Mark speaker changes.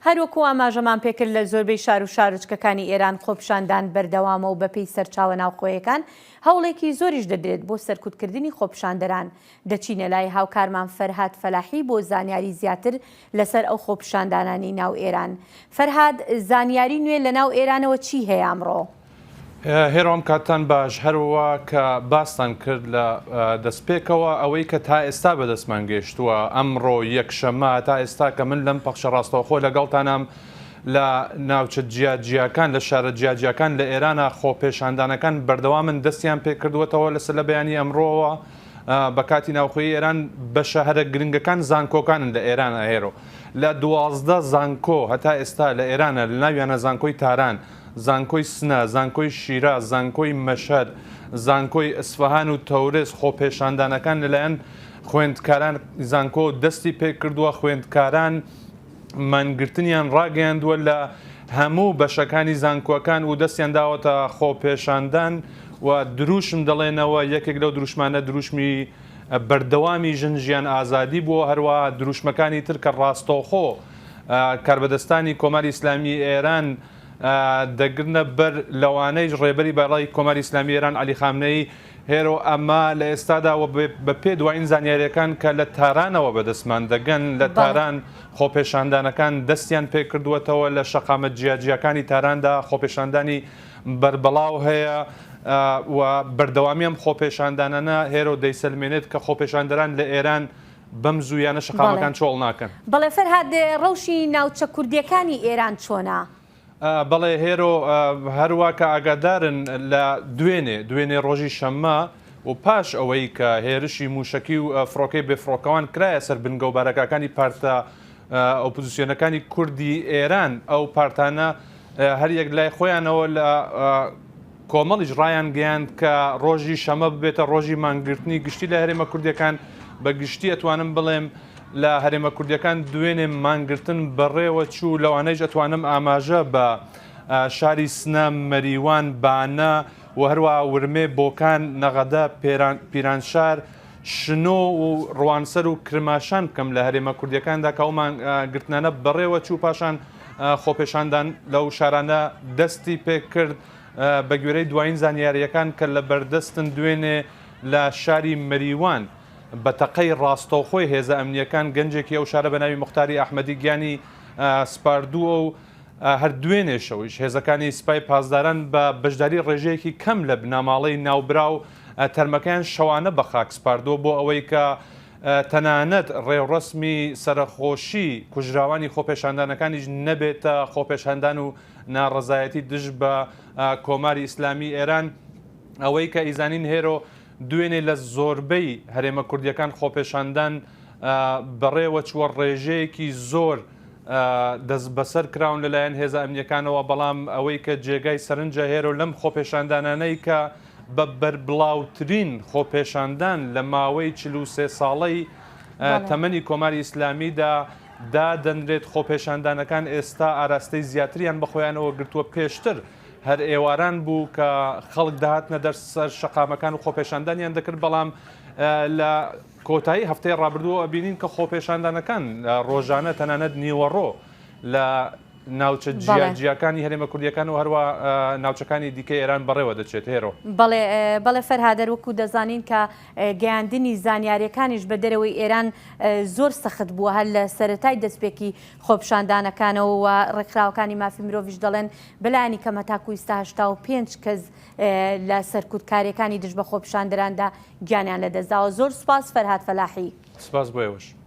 Speaker 1: هەروەکو ئاماژەمان پێکرد لە زۆربەی شارو شارۆچکەکانی ئێران خۆپیشاندان بەردەوامە و بەپێی سەرچاوە ناوخۆیەکان هەوڵێکی زۆریش دەدرێت بۆ سەرکوتکردنی خۆپیشاندەران، دەچینە لای هاوکارمان فەرهاد فەلاحی بۆ زانیاری زیاتر لەسەر ئەو خۆپیشاندانانەی ناو ئێران. فەرهاد، زانیاری نوێ لەناو ئێرانەوە چی هەیە ئەمڕۆ؟ هێرۆم
Speaker 2: کاتتان باش هەروا کە باستان کرد لە دەستپێکەوە ئەوەی کە تا ئێستا بەدەستمان گەشتووە ئەمڕۆ یەکشەمە تا ئێستا کە من لەم پەخشە ڕاستەوخۆ لەگەڵتانام لە ناوچە جیاجیاکان لە شارە جیاجیاکان لە ئێرانە خۆپێشاندانەکان بەردەوامن دەستیان پێکردووەتەوە لەسەر لە بەیانی ئەمڕۆوە بە کاتی ناوخۆی ئێران بە شەهرە گرنگەکان زانکۆکانن لە ئێران ئەهێرۆ لە دوازدە زانکۆ هەتا ئێستا لە ئێرانە لە ناویانە زانکۆی تاران زانکۆی سنە، زانکۆی شیراز، زانکۆی مەشهەد، زانکۆی ئەسفەهان و تەورێز خۆپێشاندانەکان لەلایەن خوێندکاران زانکۆ دەستی پێکردووە، خوێندکاران مانگرتنیان ڕاگەیاندووە لە هەموو بەشەکانی زانکۆکان و دەستیان داوەتە خۆپێشاندان و دروشم دەڵێنەوە، یەکێک لەو دروشمانە دروشمی بەردەوامی ژن ژیان ئازادی بووە، هەروەها دروشمەکانی تر کە ڕاستەوخۆ کاربەدەستانی کۆماری ئیسلامیی ئێران دەگرنە بەر، لەوانەیش ڕێبەری باڵای کۆماری ئیسلامیی ئێران عەلی خامنەیی، هێرۆ ئەما لە ئێستادا و بە پێ دوایین زانیارییەکان کە لە تارانەوە بە دەستمان دەگەن، لە تاران خۆپێشاندانەکان دەستیان پێ کردووەتەوە، لە شەقامە جیاجیاکانی تاراندا خۆپێشاندانی بەربڵاو هەیە و بەردەوامی ئەم خۆپێشاندانانە هێرۆ دەیسەلمێنێت کە خۆپێشاندەران لە ئێران بەم زوویانە شەقامەکان چۆڵ ناکەن. بەڵێ فەرهاد
Speaker 1: ڕەوشی ناوچە کوردیەکانی ئێران چۆنە؟ بەڵێ
Speaker 2: هێرۆ هەروە کە ئاگادارن لە دوێنێ دوێنێ ڕۆژی شەممە و پاش ئەوەی کە هێرشی موشەکی و فڕۆکەی بێفڕۆکەوان کرایە سەر بنگە و بارەکەکانی پارتە ئۆپزیسیۆنەکانی کوردی ئێران ئەو پارتانە هەریەک لای خۆیانەوە لە کۆمەڵیش ڕایانگەیاند کە ڕۆژی شەمە ببێتە ڕۆژی مانگرتنی گشتی لە هەرێمە کوردییەکان، بە گشتی ئەتوانم بڵێم لە هەرێمە کوردییەکان دوێنێ مانگرتن بەڕێوە چوو، لەوانەیش ئەتوانم ئاماژە بە شاری سنە، مەریوان، بانە و هەروەها ورمێ، بۆکان، نەغەدە، پیرانشار، شنۆ و ڕوانسەر و کرماشان بکەم لە هەرێمە کوردییەکاندا کە ئەو مانگرتنانە بەڕێوە چوو، پاشان خۆپێشاندان لەو شارانە دەستی پێکرد. بەگوێرەی دوایین زانیارییەکان کە لەبەردەستن، دوێنێ لە شاری مەریوان بە تەقەی ڕاستەوخۆی هێزە ئەمنییەکان گەنجێکی ئەو شارە بە ناوی موختاری ئەحمەدی گیانی سپاردووە و هەر دوێنێ شەویش هێزەکانی سپای پاسداران بە بەشداری ڕێژەیەکی کەم لە بنەماڵەی ناوبراو تەرمەکەیان شەوانە بە خاک سپاردووە بۆ ئەوەی کە تەنانەت ڕێوڕەسمی سەرەخۆشی کوژراوانی خۆپێشاندانەکانیش نەبێتە خۆپێشاندان و ناڕەزایەتی دژ بە کۆماری ئیسلامی ئێران ئەوەی کە ئیزانین هێرۆ دوێنێ لە زۆربەی هەرێمە کوردیەکان خۆپێشاندان بەڕێوە چووە ڕێژەیەکی زۆر دەست بەسەر کراون لەلایەن هێزە ئەمنیەکانەوە بەڵام ئەوەی کە جێگای سەرنجە هێرۆ لەم خۆپێشاندانانەی کە بە بەربڵاوترین خۆپێشاندان لە ماوەی چلوسێ ساڵەی تەمەنی کۆماری ئیسلامیدا دادەنرێت، خۆپێشاندانەکان ئێستا ئاراستەی زیاتریان بەخۆیانەوە گرتووە، پێشتر هەر ئێواران بوو کە خەڵک دەهاتنە دەر سەر شەقامەکان و خۆپێشاندانیان دەکرد بەڵام لە کۆتایی هەفتەی ڕابردووە ئەبینین کە خۆپێشاندانەکان ڕۆژانە تەنانەت نیوەڕۆ لە ناوچە جیا جیاکانی هەرێمە کوردیەکان و هەروە ناوچەکانی دیکە ئێران بەڕێوە دەچێت هێرۆ بەڵێ بەڵێ
Speaker 1: فەرهادەر وەکو دەزانین کە گەیاندنی زانیارییەکانیش بە دەرەوەی ئێران زۆر سەخت بووە، هەر لە سەرەتای دەستپێکی خۆپیشاندانەکانەوە و ڕێکخراوەکانی مافی مرۆڤیش دەڵێن بە لایەنی کەم هەتاکوو ئیستا هەشتا و پێنج کەس لە سەرکوتکارییەکانی دژ بە خۆپیشاندەراندا گیانیان لەدەستداوە.
Speaker 2: زۆر
Speaker 1: سوپاس فەرهاد فەلاحی. سپاس بۆ ئێوەش.